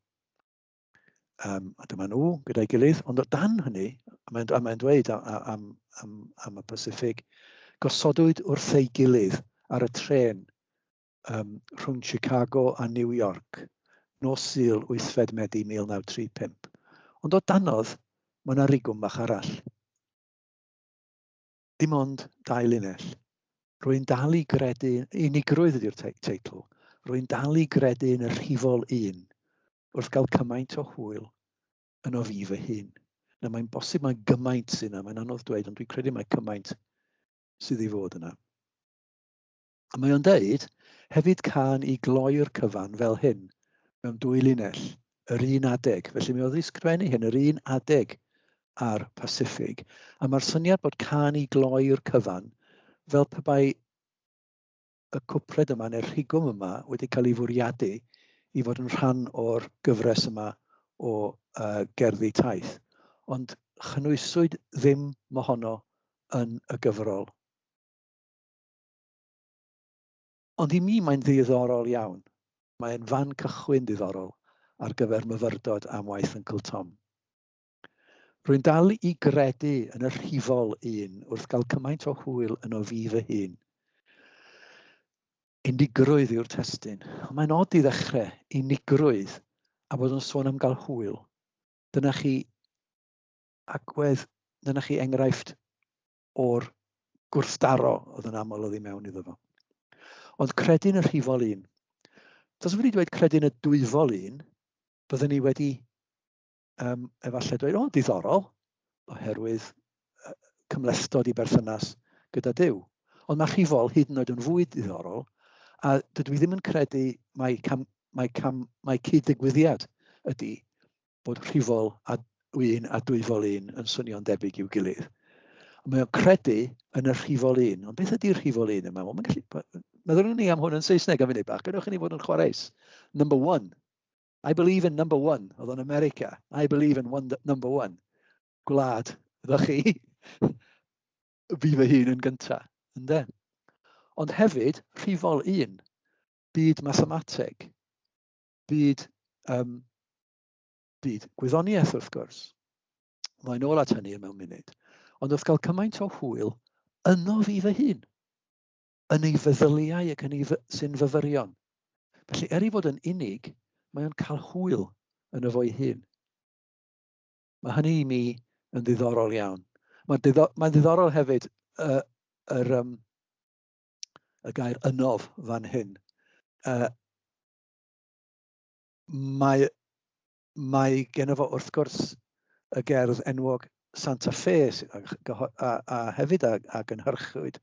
[SPEAKER 1] Um, a dyma nhw gyda'i gilydd, ond o dan hynny, a mae'n mae dweud am, am, am, am y Pacific, gosodwyd wrth ei gilydd ar y tren um, rhwng Chicago a New York, nos Sul 8 Medi 1935. Ond o danodd, mae yna rigwm bach arall. Dim ond dau linell. Rwy'n dal i gredu, unigrwydd ydy'r teitl, rwy'n dal i gredu yn y rhifol un wrth gael cymaint o hwyl yn o fi fy hun. Na, mae'n bosib mae gymaint sy'n yna, mae'n anodd dweud, ond dwi'n credu mae cymaint sydd i fod yna. A mae o'n deud, hefyd cân i gloi'r cyfan fel hyn, mewn dwy linell, yr un adeg. Felly mi oedd wedi sgrifennu hyn, yr un adeg a'r Pasiffig. A mae'r syniad bod cân i gloi'r cyfan, fel pe bai y cwpled yma neu'r rhigwm yma wedi cael ei fwriadu i fod yn rhan o'r gyfres yma o uh, gerddi taith. Ond chynwyswyd ddim mohono yn y gyfrol. Ond i mi mae'n ddiddorol iawn. Mae'n fan cychwyn ddiddorol ar gyfer myfyrdod am waith Yncl Tom. Rwy'n dal i gredu yn y rhifol un wrth gael cymaint o hwyl yno fi fy hun. Unigrwydd yw'r testun. Ond mae'n od i ddechrau, unigrwydd, a bod yn sôn am gael hwyl. Dyna chi agwedd, dyna chi enghraifft o'r gwrthdaro oedd yn aml oedd i mewn iddo fo. Ond credyn y rhifol un. Tasa wedi dweud credyn y dwyfol un, byddwn ni wedi um, efallai dweud, o, diddorol, oherwydd cymlestod i berthynas gyda Dyw. Ond mae rhifol hyd yn oed yn fwy diddorol, a dydw i ddim yn credu mae, cam, mae, cam, mae cyd-ddigwyddiad ydy bod rhifol a 1 a dwyfol 1 yn swnio'n debyg i'w gilydd. A mae o'n credu yn y rhifol 1. Ond beth ydy'r rhifol 1 yma? Wel, gallu... Meddylwn ni am hwn yn Saesneg am funud bach. Gadewch i ni fod yn chwareus. Number one. I believe in number one. Oedd o'n America. I believe in one, number one. Gwlad, ydych chi? Fi fy hun yn gyntaf. Ynde? Ond hefyd, rhifol 1. Byd mathemateg. byd, um, byd gwyddoniaeth wrth gwrs. Mae'n ôl at hynny mewn munud. Ond wrth gael cymaint o hwyl yno fi fy hun, yn ei feddyliau ac yn ei sy'n fyfyrion. Felly, er i fod yn unig, mae o'n cael hwyl yn y fo'i hun. Mae hynny i mi yn ddiddorol iawn. Mae'n ddiddor, mae ddiddorol hefyd y, yr, um, y gair ynof fan hyn. Uh, Mae, mae gen fo wrth gwrs y gerdd enwog Santa Fe a, a hefyd a, a gynhyrchwyd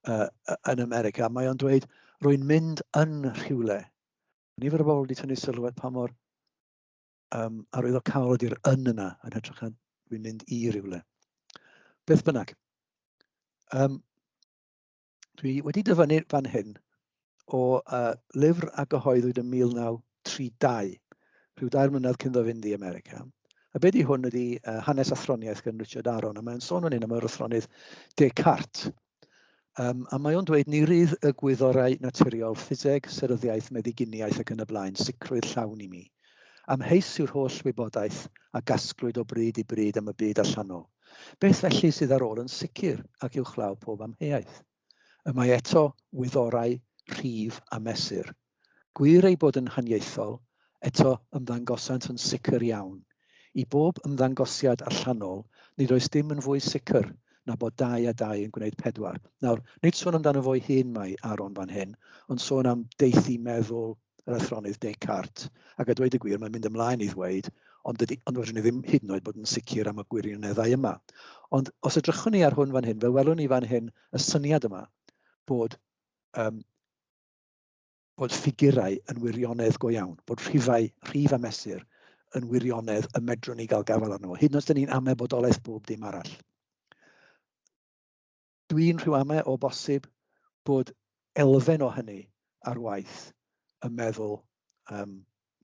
[SPEAKER 1] uh, yn America. Mae o'n dweud, rwy'n mynd yn rhywle. Nifer o bobl wedi tynnu sylw at pa mor um, arwyddocaol ydy'r yn yna yn hytrach na rwy'n mynd i rhywle. Beth bynnag. Um, Dwi wedi dyfynnu fan hyn o uh, lyfr a gyhoeddwyd yn 1932, rhyw dair mlynedd cyn ddo fynd i America. A be di hwn ydy uh, hanes athroniaeth gan Richard Aron, a mae'n sôn yn un am yr athronydd Descartes. Um, a mae o'n dweud ni rydd y gwyddorau naturiol, ffiseg, seryddiaeth, meddyginiaeth ac yn y blaen, sicrwydd llawn i mi. Amheus yw'r holl wybodaeth a gasglwyd o bryd i bryd am y byd allanol. Beth felly sydd ar ôl yn sicr ac uwchlaw pob amheuaeth? Y mae eto wyddorau rhif a mesur. Gwir eu bod yn haniaethol, eto ymddangosant yn sicr iawn. I bob ymddangosiad allanol, nid oes dim yn fwy sicr na bod dau a dau yn gwneud pedwar. Nawr, nid sôn amdano fo'i hun mae Aaron fan hyn, ond sôn am deithimeddwl, yr athronydd Descartes, ac a dweud y gwir mae'n mynd ymlaen i ddweud, ond, dydy, ond rydyn ni ddim hyd yn oed bod yn sicr am y gwirioneddau yma. Ond os edrychwn ni ar hwn fan hyn, fe welwn ni fan hyn y syniad yma bod um, bod ffigurau yn wirionedd go iawn, bod rhifau, rhif a mesur yn wirionedd y medrwn ni gael gafael arno fo, hyd yn oed os ni'n amebodolaeth bob dim arall. Dwi'n rhyw ame o bosib bod elfen o hynny ar waith ym meddwl yym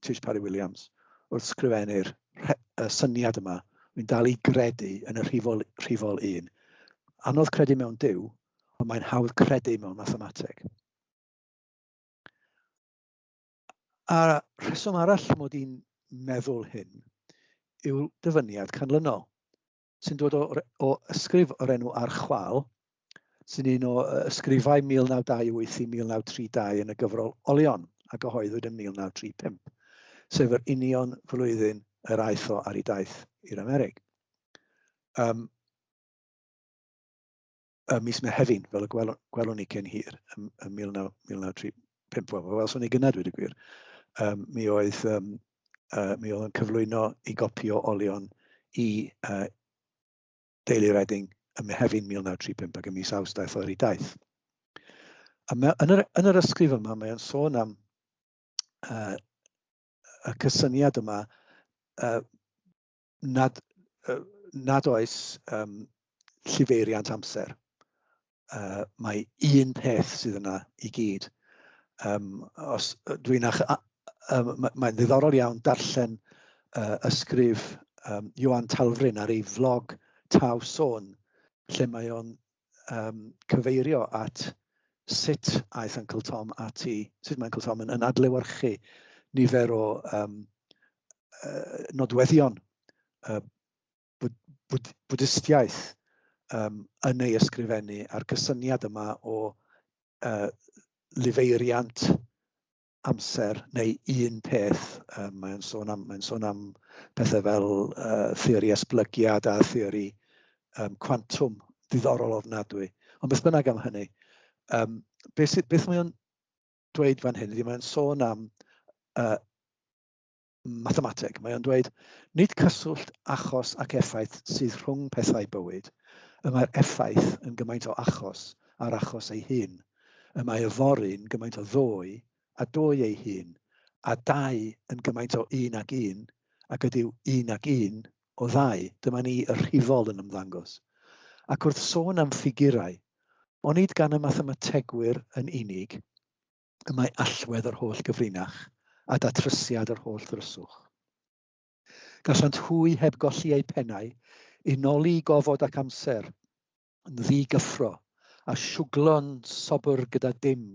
[SPEAKER 1] Tish Parry-Williams wrth sgrifennu'r rhe- y syniad yma. Dwi'n dal i gredu yn y rhifol, rhifol un. Anodd credu mewn Duw, ond mae'n hawdd credu mewn mathemateg. A rheswm arall mod i'n meddwl hyn yw'r dyfyniad canlynol. sy'n dod o, o ysgrif o'r enw ar chwal, sy'n un o ysgrifau 1928 i 1932 yn y gyfrol Olion a gyhoeddwyd yn 1935, sef yr union flwyddyn yr aeth o ar ei daith i'r Amerig. Um, y mis Mehefin, fel y gwelwn, gwelwn ni cyn hir, ym, ym 1935, wel, fel swn i gyna dweud y gwir, um, mi, oedd, um, uh, mi oedd yn cyflwyno i gopi o olion i uh, Deulu Redding ym Mehefin 1935 ac ym mis Awst daeth o'r i daith. A mae, yn, yr, yn yr ysgrif yma, mae'n sôn am uh, y cysyniad yma uh, nad, uh, nad oes um, llifeiriant amser. Uh, mae un peth sydd yna i gyd. Um, os dwi'n ach, um, mae'n mae ddiddorol iawn darllen uh, ysgrif um, Johan Talfrin ar ei flog Taw Sôn, lle mae o'n um, cyfeirio at sut aeth Uncle Tom ati, sut mae Uncle Tom yn, yn adlewyrchu nifer o um, uh, nodweddion uh, bwyd, bwyd, bwdistiaeth um, yn ei ysgrifennu a'r cysyniad yma o uh, lifeiriant amser neu un peth. Um, mae'n sôn am, mae'n sôn am pethau fel uh, theori esblygiad a theori um, quantum ddiddorol ofnadwy. Ond beth bynnag am hynny, um, beth, beth mae'n dweud fan hyn ydy mae'n sôn am uh, mathemateg. Mae o'n dweud, nid cyswllt achos ac effaith sydd rhwng pethau bywyd, y mae'r effaith yn gymaint o achos a'r achos ei hun, y mae yfory'n gymaint o ddoe a doe ei hun, a dau yn gymaint o un ag un, ac ydyw un ag un o ddau, dyma ni y rhifol yn ymddangos. Ac wrth sôn am ffigurau, onid gan y mathemategwyr yn unig, y mae allwedd yr holl gyfrinach a datrysiad yr holl ddryswch. Gallant hwy heb golli eu pennau, unoli i gofod ac amser, yn ddi-gyffro, a siwglo'n sobr gyda dim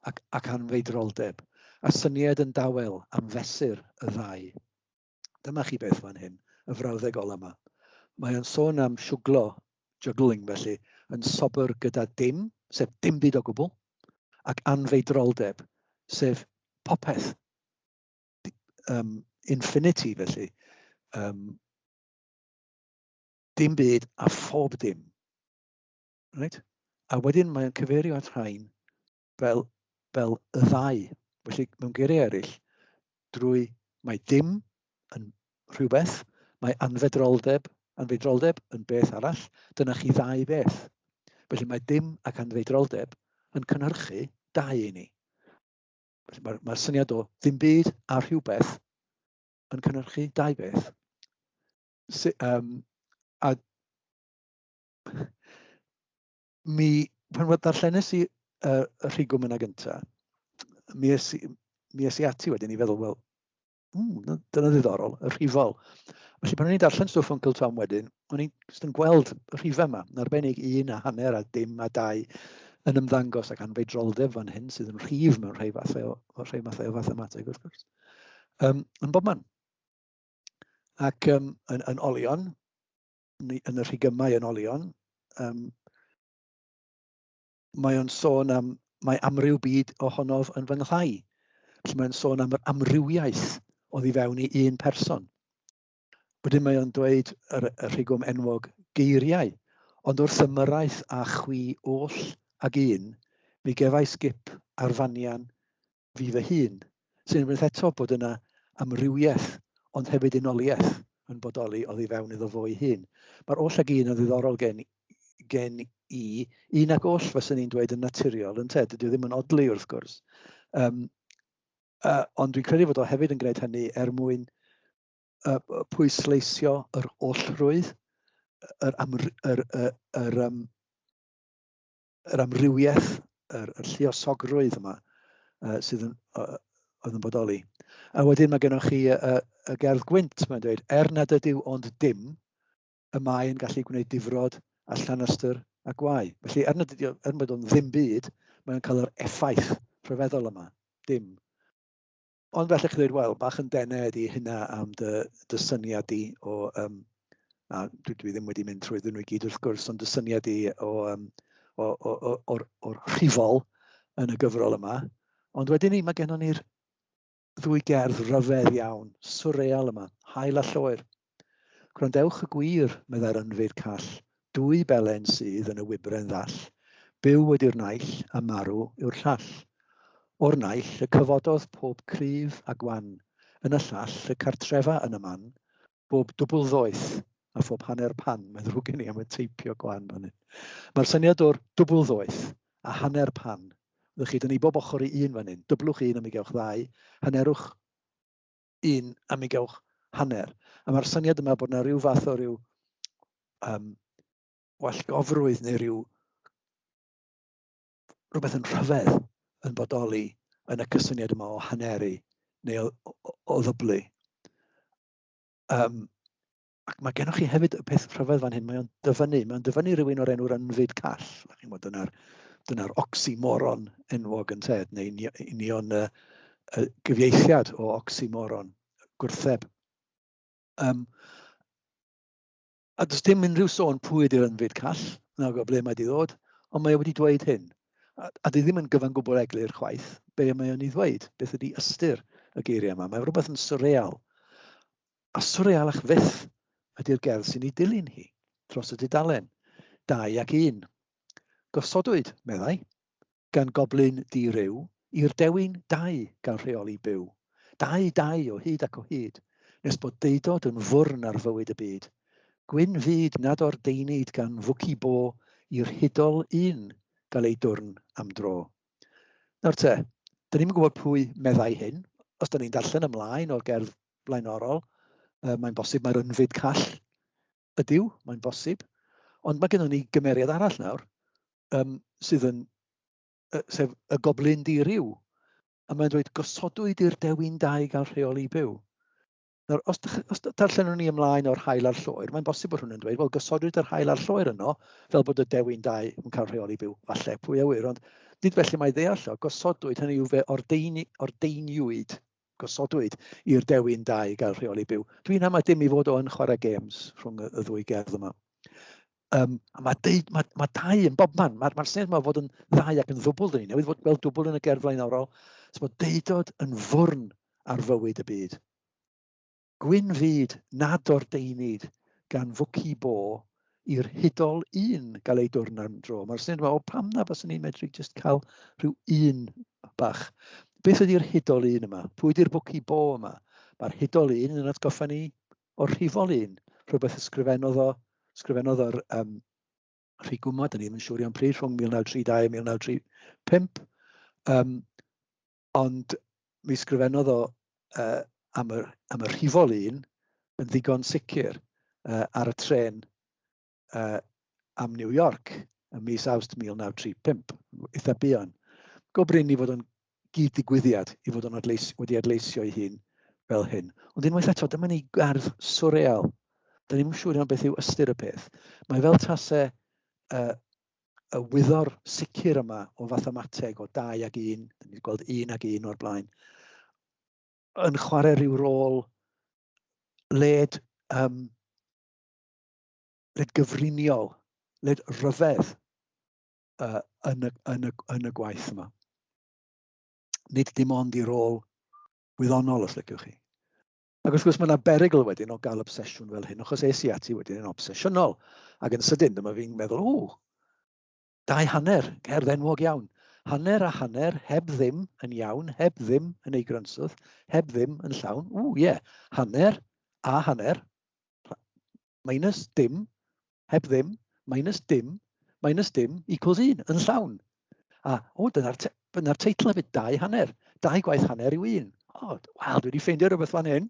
[SPEAKER 1] ac, ac anfeidroldeb, a synied yn dawel am fesur y ddau. Dyma chi beth fan hyn, y frawddeg ola yma. Mae o'n sôn am siwglo, juggling felly, yn sobr gyda dim, sef dim byd o gwbl, ac anfeidroldeb, sef popeth. Um, infinity felly. Um, dim byd a phob dim. Right? A wedyn mae'n cyfeirio at rhain fel, fel y ddau. Felly, mewn geiriau eraill, drwy mae dim yn rhywbeth, mae anfedroldeb, anfedroldeb yn beth arall, dyna chi ddau beth. Felly mae dim ac anfedroldeb yn cynhyrchu dau i ni. Felly mae'r mae syniad o ddim byd a rhywbeth yn cynhyrchu dau beth. Si, um, a mi, pan fod darllenes i uh, y rhigwm yna gynta, mi es, mi es i ati wedyn i feddwl, wel, mm, dyna ddiddorol, y rhifol. Felly pan o'n i'n darllen stwff o'n Uncle Tom wedyn, o'n i'n just yn gweld y rhifau yma, yn arbennig un a hanner a dim a dau yn ymddangos ac anfei droldef fan hyn sydd yn rhif mewn rhai fathau o, o rhai mathau o fathemateg wrth gwrs. Um, yn bob man. Ac um, yn, yn olion, yn y rhigymau yn olion. Um, mae o'n sôn am, mae amryw byd ohonof yn fy nghlai. Felly mae'n sôn am yr amrywiaeth o ddifewn i un person. Wedyn mae o'n dweud yr, y rhigwm enwog geiriau, ond wrth ymyraeth a chwi oll ag un, mi gefais gip ar fanian fi fy hun, sy'n unwaith eto bod yna amrywiaeth ond hefyd unoliaeth yn bodoli oddi fewn iddo fo'i hun. Mae'r oll ag un yn ddiddorol gen, gen i, un ac oll fyswn i'n dweud yn naturiol, yn te, dydy o ddim yn odlu wrth gwrs. Um, uh, ond dwi'n credu fod o hefyd yn gwneud hynny er mwyn uh, pwysleisio yr ollrwydd, yr, amr, yr, yr, yr, um, yr amrywiaeth, yr, yr lliosogrwydd yma uh, sydd yn, uh, oedd yn bodoli. A wedyn mae gennych chi y, y, y gerdd gwynt, mae'n dweud, er nad ydyw ond dim, y mae yn gallu gwneud difrod a llanastr a gwau. Felly, er nad ydyw, er bod o'n ddim byd, mae'n cael yr effaith rhyfeddol yma, dim. Ond felly chi ddweud, wel, bach yn denau ydy hynna am dy, dy syniad di o, um, a dwi, dwi ddim wedi mynd trwy ddyn nhw i gyd wrth gwrs, ond dy syniad di o, um, o, o, o, o'r, or rhifol yn y gyfrol yma. Ond wedyn ni, mae gennym ni'r ddwy gerdd rhyfedd iawn, surreal yma, hael a lloer. Gwrandewch y gwir, meddai'r ynfyd call, dwy belen sydd yn y wybren ddall, byw ydy'r naill a marw yw'r llall. O'r naill y cyfododd pob cryf a gwan, yn y llall y cartrefa yn y man, bob dwbl ddoeth a phob hanner pan, mae'n ddrwg gen i am y teipio gwan fan hyn. Mae'r syniad o'r dwbl ddoeth a hanner pan, ddych chi, dan ni bob ochr i un fan hyn, dyblwch un a mi gewch ddau, hannerwch un am ugewch hanner. A mae'r syniad yma bod yna rhyw fath o ryw um, wallgofrwydd neu ryw rhywbeth yn rhyfedd yn bodoli yn y cysyniad yma o haneru neu o, o, o ddyblu. Um, ac mae gennych chi hefyd y peth rhyfedd fan hyn, mae o'n dyfynnu, mae o'n dyfynnu rhywun o'r enw'r ynfyd call. A chi'n bod, dyna'r dyna oxymoron enwog yn ted, neu union y, y gyfieithiad o oxymoron, gwrtheb. Um, a does dim unrhyw sôn pwy ydy'r ynfyd call, na o ble mae wedi ddod, ond mae e wedi dweud hyn. A, a dwi ddim yn gyfan gwbl eglur chwaith be mae o'n ei ddweud, beth ydy ystyr y geiriau yma. Mae rhywbeth yn surreal A swrealach fyth ydy'r gerdd sy'n ei dilyn hi, dros y dudalen, dau ac un. Gosodwyd, meddai, gan goblyn di-ryw, i'r dewin dau gael rheoli byw. Dau, dau, o hyd ac o hyd, nes bod deudod yn fwrn ar fywyd y byd. Gwyn fyd nad ordeinid gan fwci bo i'r hudol un gael ei dwrn am dro. Nawr te, 'dan ni'm yn gwybod pwy meddai hyn, os 'dan ni'n darllen ymlaen o'r gerdd blaenorol, uh, mae'n bosib mae'r ynfyd call ydyw, mae'n bosib, ond mae gennym ni gymeriad arall nawr um, sydd yn, uh, sef y goblin di rhyw, a mae'n dweud gosodwyd i'r dewin dau gael rheoli byw. Nawr, os, os darllenwn ni ymlaen o'r hael a'r lloer, mae'n bosib bod hwn yn dweud, wel, gosodwyd yr hael a'r lloer yno, fel bod y dewin dau yn cael rheoli byw, falle pwy awyr, ond nid felly mae ddeall o, gosodwyd, hynny yw fe ordeini, ordeiniwyd gosodwyd i'r Dewi yn da i gael rheoli byw. Dwi'n am a dim i fod o'n chwarae games rhwng y, y ddwy gerdd yma. Um, a mae, deud, mae, mae dau yn bob man. Mae'r mae syniad yma fod yn ddau ac yn ddwbl, dyn ni newydd fod gweld dwbl yn y gerdd flaenorol. So mae deudod yn fwrn ar fywyd y byd. Gwyn fyd nad ordeinid gan fwci bo i'r hudol un gael ei dwrn am dro. Mae'r syniad yma, o pam na faswn ni'n medru jyst cael rhyw un bach. Beth ydy'r hudol un yma? Pwy ydy'r bwci bo yma? Mae'r hudol un yn atgoffa ni o'r rhifol un, rhywbeth ysgrifennodd o, ysgrifennodd o'r um, rhy gwmod, da ni'n siŵr iawn pryd, rhwng 1932 a 1935. Um, Ond mi sgrifennodd o yy am y am y rhifol un yn ddigon sicr yy ar y trên yy am New York ym mis Awst 1935, eitha buan. Go brin i fod o'n gyd-ddigwyddiad, i fod o'n adleis, wedi adleisio ei hun fel hyn. Ond unwaith eto, dyma ni gardd swreal. Da ni'n siŵr iawn beth yw ystyr y peth. Mae fel tase uh, y wyddor sicr yma o fathemateg o 2 ag 1, dyn ni'n gweld 1 ag 1 o'r blaen, yn chwarae rhyw rôl led, um, led gyfriniol, led rhyfedd uh, yn, y, yn, y, yn y gwaith yma. Nid dim ond i rôl wyddonol, os lygwch chi. Ac wrth gwrs mae yna berygl wedyn o gael obsesiwn fel hyn, achos es i ati wedyn yn obsesiynol, ac yn sydyn dyma fi'n meddwl, ww, dau hanner, cerdd enwog iawn. Hanner a hanner, heb ddim yn iawn, heb ddim yn ei grynswth, heb ddim yn llawn, ww, ie, yeah. hanner a hanner, minus dim, heb ddim, minus dim, minus dim, equals 1, yn llawn. A, o, dyna'r te dyna teitl hefyd, dau hanner, dau gwaith hanner yw un. O, oh, wel, dwi wedi ffeindio rhywbeth fan hyn.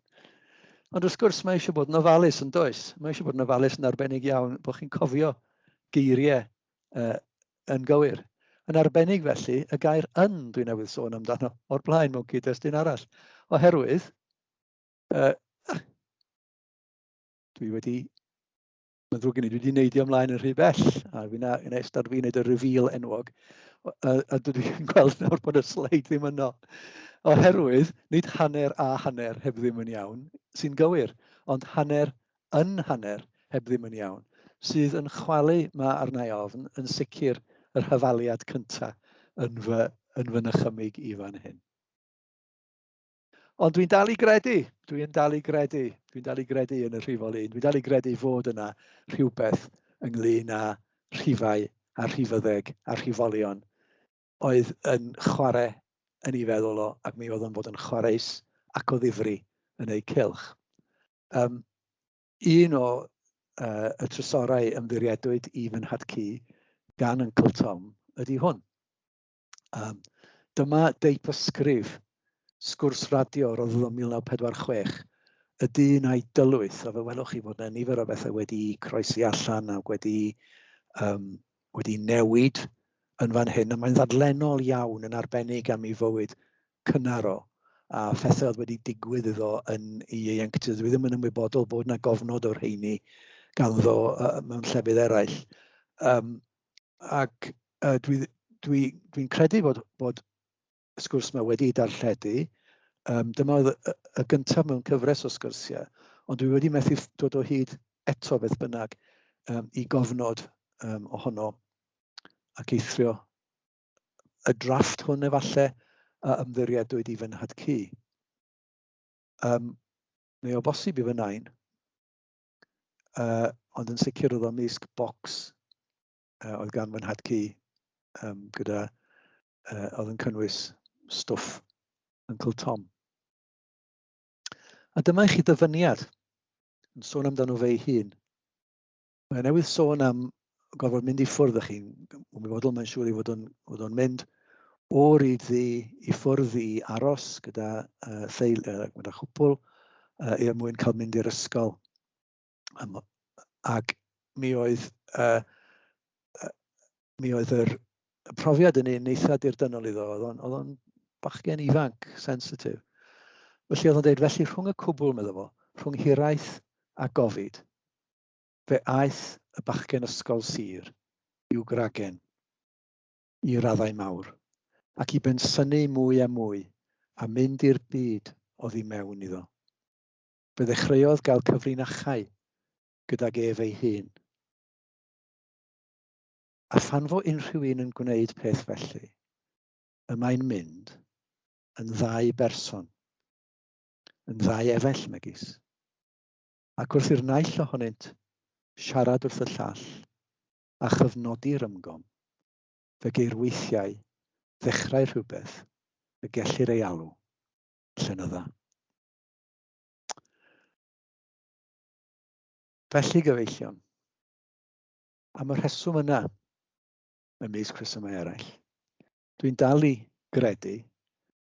[SPEAKER 1] Ond wrth gwrs, mae eisiau bod yn ofalus yn does. Mae eisiau bod yn ofalus yn arbennig iawn bod chi'n cofio geiriau uh, yn gywir. Yn arbennig felly, y gair yn dwi'n newydd sôn amdano o'r blaen mewn cyd-destun arall. Oherwydd, uh, dwi wedi, mae'n ddrwg gen i, dwi wedi neidio ymlaen yn rhy bell, a fi'n yn eistedd fi'n neud y reveal enwog, a, a dwi wedi gweld nawr bod y sleid ddim yno. Oherwydd, nid hanner a hanner heb ddim yn iawn sy'n gywir, ond hanner yn hanner heb ddim yn iawn, sydd yn chwalu mae arnau ofn yn sicr yr hyfaliad cyntaf yn fy, yn fy nychymig i fan hyn. Ond dwi'n dal i gredu, dwi'n dal i gredu, dwi'n dal i gredu yn y rhifol un, dwi'n dal i gredu fod yna rhywbeth ynglyn â rhifau a rhifyddeg a rhifolion oedd yn chwarae yn ei feddwl o ac mi oedd o'n bod yn chwareus ac o ddifri yn eu cylch. Um, un o uh, y trysorau ymddiriedwyd i fy nhad-cu gan Uncle Tom ydy hwn. Um, dyma deip ysgrif sgwrs radio roedd yn 1946 y dyn a'i dylwyth, a fe welwch chi fod yna nifer o bethau wedi croesi allan ac wedi, um, wedi newid yn fan hyn, a mae'n ddadlenol iawn yn arbennig am ei fywyd cynnar o, a phethau oedd wedi digwydd iddo yn ei ieuenctid. Dwi ddim yn ymwybodol bod yna gofnod o'r rheini ganddo uh, mewn llefydd eraill. Um, ac yy dwi dwi dwi'n credu bod bod y sgwrs 'ma wedi ei darlledu. Yym dyma oedd y y gyntaf mewn cyfres o sgyrsiau, ond dwi wedi methu dod o hyd eto beth bynnag yym i gofnod yym ohono ac eithrio y drafft hwn efallai a ymddiriedwyd i fy nhad-cu. Yym neu o bosib i fy nain. uh, ond yn sicr oedd o'n mysg box uh, oedd gan fy nhad cu um, gyda, uh, oedd yn cynnwys stwff Uncle Tom. A dyma i chi ddyfyniad yn sôn amdano fe'i hun. Mae newydd sôn am gorfod mynd i ffwrdd â chi'n ymwybodol, mae'n siŵr i fod o'n, fod o'n mynd o ryd ddi i ffwrdd i aros gyda uh, theil, uh, gyda chwpl uh, er mwyn cael mynd i'r ysgol. Um, ac mi oedd, uh, uh, mi oedd yr profiad yn un eitha dirdynnol iddo, oedd o'n bachgen ifanc, sensitif. Felly oedd o'n dweud, felly rhwng y cwbl, meddwl fo, rhwng hiraeth a gofid, Fe aeth y bachgen ysgol sir i'w gragen i raddau mawr, ac i bensynu mwy a mwy a mynd i'r byd oddi mewn iddo. Fe ddechreuodd gael cyfrinachau gydag ef ei hun. A phan fo unrhyw un yn gwneud peth felly, y mae'n mynd yn ddau berson, yn ddau efell megis. ac wrth i'r naill ohonynt siarad wrth y llall a chyfnodi'r ymgom, fe geir weithiau ddechrau rhywbeth y gellir ei alw yn llenydda. Felly gyfeillion, am y rheswm yna, ymysg rhesymau eraill, dwi'n dal i gredu